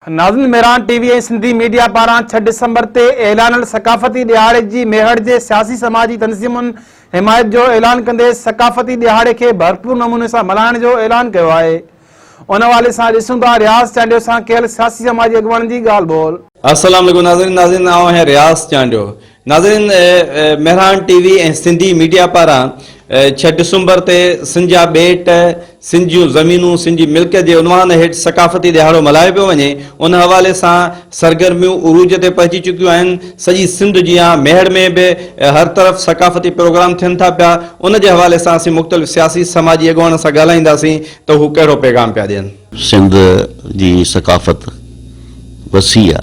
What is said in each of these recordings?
ناظمين ميران T V ۽ Sindhi media پاران ڇهه ڊسمبر تي اعلانل ثقافتي ڏهاڙي جي ميهڙ جي سياسي سماجي تنظيمن حمايت جو اعلان ڪندي ثقافتي ڏهاڙي کي ڀرپور نموني سان ملهائڻ جو اعلان ڪيو آهي ان حوالي سان ڏسون ٿا رياض چانڊيو سان ڪيل سياسي سماجي اڳواڻن جي ڳالهه ٻولهه. السلام عليڪم ناظرين ناظرين آئون آهيان رياض چانڊيو ناظرين Mehran T V ۽ Sindhi media پاران ڇهه ڊسمبر تي سن جا ٻيٽ، سن جون زمينون، سن جي ملڪيت جي عنوان هيٺ ثقافتي ڏهاڙو ملهايو پيو وڃي، ان حوالي سان سرگرميون عروج تي پهچي چڪيون آهن، سڄي سنڌ جيان ميهڙ ۾ به هر طرف ثقافتي پروگرام ٿين ٿا پيا، ان جي حوالي سان اسين مختلف سياسي سماجي اڳواڻن سان ڳالهائينداسين ته هو ڪهڙو پيغام پيا ڏين. سنڌ جي ثقافت وسيع آ.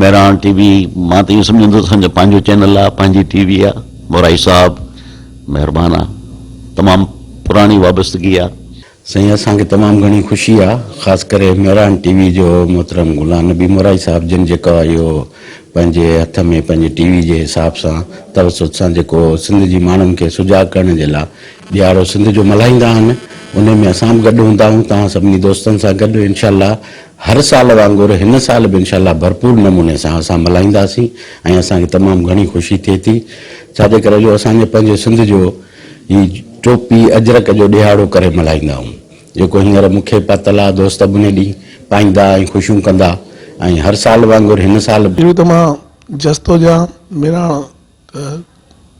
مهراڻ ٽي وي مان ته ايئن سمجهندو ته اسان جو پنهنجو چينل آهي پنهنجي ٽي وي آهي مورائي صاحب مهربان آهي تمام پراڻي وابستگي آهي. سائين اسان کي تمام گهڻي خوشي آهي خاص ڪري مهراڻ ٽي وي جو محترم غلام نبي مورائي صاحب جن جيڪو آهي اهو پنهنجي هٿ ۾ پنهنجي ٽي وي جي حساب سان توسط سان جيڪو سنڌ جي ماڻهن کي سجاڳ ڪرڻ جي لاء ڏيهاڙو سنڌ جو ملهائيندا آهن انهي ۾ اسان به گڏ هوندا آهيون توهان سڀني دوستن سان گڏ انشاء الله هر سال وانگر هن سال به انشاء الله ڀرپور نموني سان اسان ملهائينداسين ۽ اسان کي تمام گهڻي خوشي ٿئي ٿي ڇا جي ڪري جو اسان جي پنهنجي سنڌ جو هي ٽوپي اجرڪ جو ڏهاڙو ڪري ملهائيندا آهيون جيڪو هينئر مون کي پاتل آهي دوست ابني ڏينهن پائيندا ۽ خوشيون ڪندا ۽ هر سال وانگر هن سال به اهو ته مان جستو جان ميراڻ ته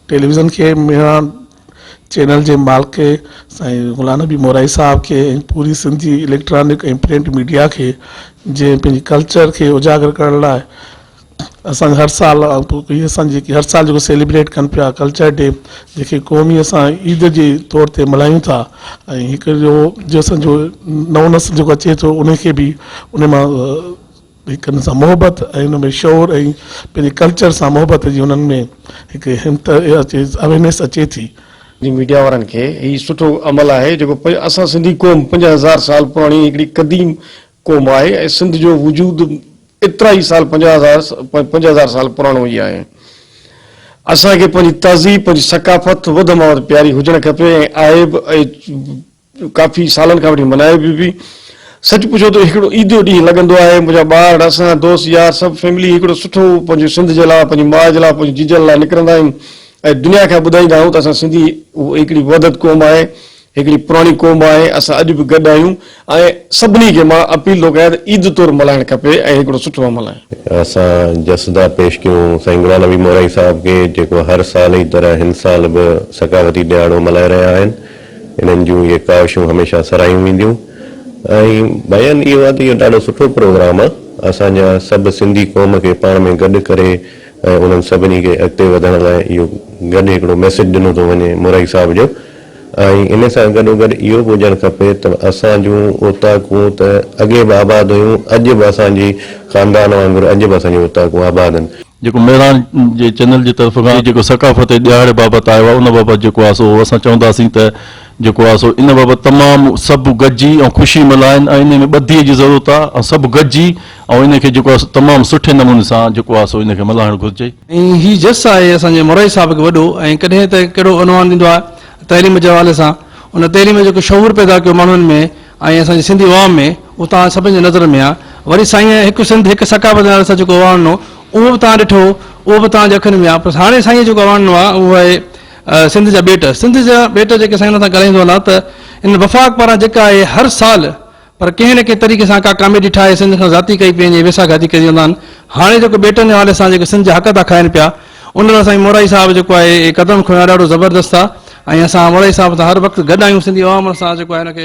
ٽيليويزن کي ميرا چينل جي مالڪ سائين غلام نبي مورائي صاحب کي ۽ پوري سنڌ جي اليڪٽرانڪ ۽ پرنٽ ميڊيا کي جنهن پنهنجي ڪلچر کي اجاگر ڪرڻ لاء اسان هر سال هي اسان جيڪي هر سال جيڪو سيليبريٽ ڪن پيا ڪلچر ڊي جيڪي قومي اسان عيد جي طور تي ملهايون ٿا ۽ هڪ جو جو اسان جو نئون نسل جيڪو اچي ٿو ان کي به ان مان هڪ ان سان محبت ۽ ان ۾ شعور ۽ پنهنجي ڪلچر سان محبت جي انهن ۾ هڪ همت اچي اويرنيس اچي ٿي. جي ميڊيا وارن کي هي سٺو عمل آهي جيڪو اسان سنڌي قوم پنج هزار سال پراڻي هڪڙي قديم قوم آهي ۽ سنڌ جو وجود ايترا ئي سال پنج هزار پنج هزار سال پراڻو ئي آهي اسان کي پنهنجي تهذيب پنهنجي ثقافت وڌ مان وڌ پياري هجڻ کپي ۽ عائب ۽ ڪافي سالن کان وٺي ملهائي به پئي. سچ پڇو ته هڪڙو عيدو ڏينهن لڳندو آهي. منهنجا ٻار، اسان، دوست يار سڀ فيملي هڪڙو سٺو پنهنجي سنڌ جي لاء، پنهنجي ماء جي لاء، پنهنجي جيجن لاء نڪرندا آهيون ۽ دنيا کي ٻڌائيندا آهيون ته اسان سنڌي هڪڙي وحدت قوم آهي، هڪڙي پراڻي قوم آهي، اسان اڄ به گڏ آهيون ۽ سڀني کي مان اپيل ٿو ڪيان ته عيد طور ملهائڻ کپي ۽ هڪڙو سٺو عمل آهي. اسان جسدا پيش ڪيون سائين غلام نبي مورائي صاحب کي جيڪو هر سال جي طرح هن سال به ثقافتي ڏهاڙو ملهائي رهيا آهن. انهن جون اهي ڪاوشون هميشه سراهيون وينديون ۽ بيان اهو آهي ته اهو ڏاڍو سٺو پروگرام آهي اسان جا سڀ سنڌي قوم کي پاڻ ۾ گڏ ڪري ۽ انهن سڀني کي اڳتي وڌڻ لاء اهو گڏ هڪڙو ميسيج ڏنو ٿو وڃي مورائي صاحب جو ۽ ان سان گڏو گڏ اهو به هجڻ کپي ته اسان جون اوطاقون ته اڳي به آباد هيون اڄ به اسان جي خاندان وانگر اڄ به اسان جون اوطاقون آباد آهن. جيڪو مهراڻ جي چينل جي طرف کان جيڪو ثقافتي ڏهاڙي بابت آيو آهي ان بابت جيڪو آهي سو اسان چونداسين ته جيڪو آهي سو ان بابت تمام سڀ گڏجي ۽ خوشي ملهائن ۽ انهي ۾ ٻڌي جي ضرورت آهي ۽ سڀ گڏجي ۽ ان کي جيڪو آهي سو تمام سٺي نموني سان جيڪو آهي سو ان کي ملهائڻ گهرجي. ۽ هي جس آهي اسان جي مورائي صاحب کي وڏو ۽ ڪڏهن ته ڪهڙو عنوان ڏيندو آهي تعليم جي حوالي سان ان تعليم جيڪو شعور پيدا ڪيو ماڻهن ۾ ۽ اسان جي سنڌي عوام ۾ اهو توهان سڀني جي نظر ۾ آ وري سائينء هڪ سنڌ هڪ ثقافت نالي سان جيڪو اواڻڻو اهو به توهان ڏٺو اهو به توهان جي اکين ۾ آ پر هاڻي سائينء جيڪو اواڻڻو آ اهو آهي سنڌ جا ٻيٽ سنڌ جا ٻيٽ جيڪي سائين سان ڳالهائيندو هلاں ته ان وفاق پاران جيڪا آهي هر سال پر ڪنهن نه ڪنهن طريقي سان ڪا ڪاميڊي ٺاهي سنڌ کان ذاتي ڪئي پئي وڃي ويساهه گهاتي ڪري ويندا آهن هاڻي جيڪو ٻيٽن جي حوالي سان جيڪي سنڌ جا حق ٿا کائن پيا ان لاء سائين مورائي صاحب جيڪو آهي قدم کنيو آهي ڏاڍو زبردست آ ۽ اسان مورائي صاحب سان هر وقت گڏ آهيون سنڌي عوام سان جيڪو آهي ان کي